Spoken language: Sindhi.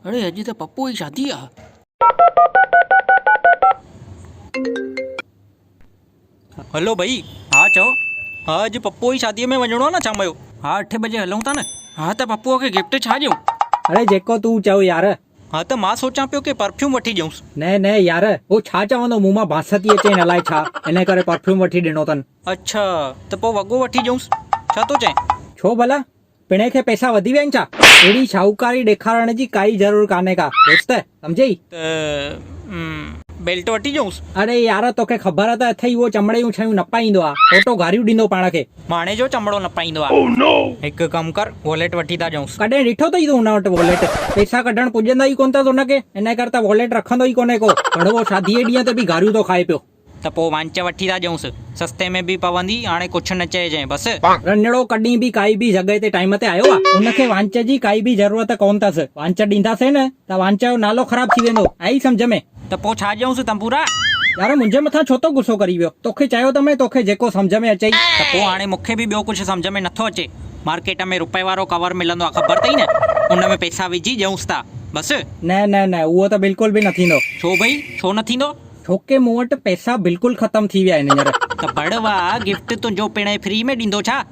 اڙي اڄ ته پپوء جي شادي آ. هلو ڀئي ها چئو. ها اڄ پپوء جي شاديء ۾ وڃڻو آ نه شام جو. ها اٺ بجي هلون ٿا نه. ها ته پپوء کي گفٽ ڇا ڏيون. اڙي جيڪو تون چئو يار. ها ته مان سوچان پيو ڪي پرفيوم وٺي ڏيونس. نه نه يار هو ڇا چوندو مون مان بانس ٿي اچين الائي ڇا ان ڪري پرفيوم وٺي ڏنو تن. اڇا ته پوء وڳو وٺي ڏيونس ڇا ٿو چئين. ڇو ڀلا پڻهي کي پئسا وڌي ويا آهن ڇا اهڙي شاهوڪاري ڏيکارڻ جي ڪائي ضرور ڪانهي ڪا دوست سمجهيئي. ته امم بيلٽ وٺي ڏيونس. اڙي يار توکي خبر ته اٿئي هو چمڙي جون شيون نه پائيندو آهي اوٽو گاريون ڏيندو پاڻ کي. ماڻهي جو چمڙو نه پائيندو آ. Oh no! هڪ ڪم ڪر واليٽ وٺي ٿا ڏيونس. ڪڏهن ڏٺو اٿئي تون هن وٽ واليٽ؟ پئسا ڪڍڻ پڄندا ئي ڪونه اٿس هن کي، انهيء ڪري ته واليٽ رکندو ئي ڪونهي ڪو. ڪڙوو شاديء جي ڏينهن تي به گاريون ٿو کائي پيو. ته پوء وانچ وٺي ٿا ڏيونس. سستي ۾ به پوندي، هاڻي ڪڇ نه چئجئين بس. رنڙو ڪڏهن به ڪائي به جڳهه تي ٽائيم تي آيو آ؟ هن کي وانچ جي ڪائي به ضرورت ڪونه اٿس. وانچ ڏينداسين نه ته وانچ جو نالو خراب ٿي ويندو، آيئي سمجهه ۾؟ ته پوء ڇا ڄئونس تنبورا؟ يار منهنجي مٿان ڇو ٿو غصو ڪرين پيو؟ توکي چيو ته مئين توکي جيڪو سمجهه ۾ اچئي. ته پوء هاڻي مون کي به ٻيو ڪجهه سمجهه ۾ نٿو اچي. مارڪيٽ ۾ روپئي وارو ڪور ملندو آهي خبر اٿئي نه؟ ان ۾ پئسا وجهي ڄئونس ٿا بس. نه نه نه اهو ته بلڪل به نه ٿيندو. ڇو ڀئي ڇو نه ٿيندو؟ ڇوڪه مون وٽ پئسا بلڪل ختم ٿي ويا آهن هينئر. ته بڙوا گفٽ تنهنجو پڻ فري ۾ ڏيندو ڇا؟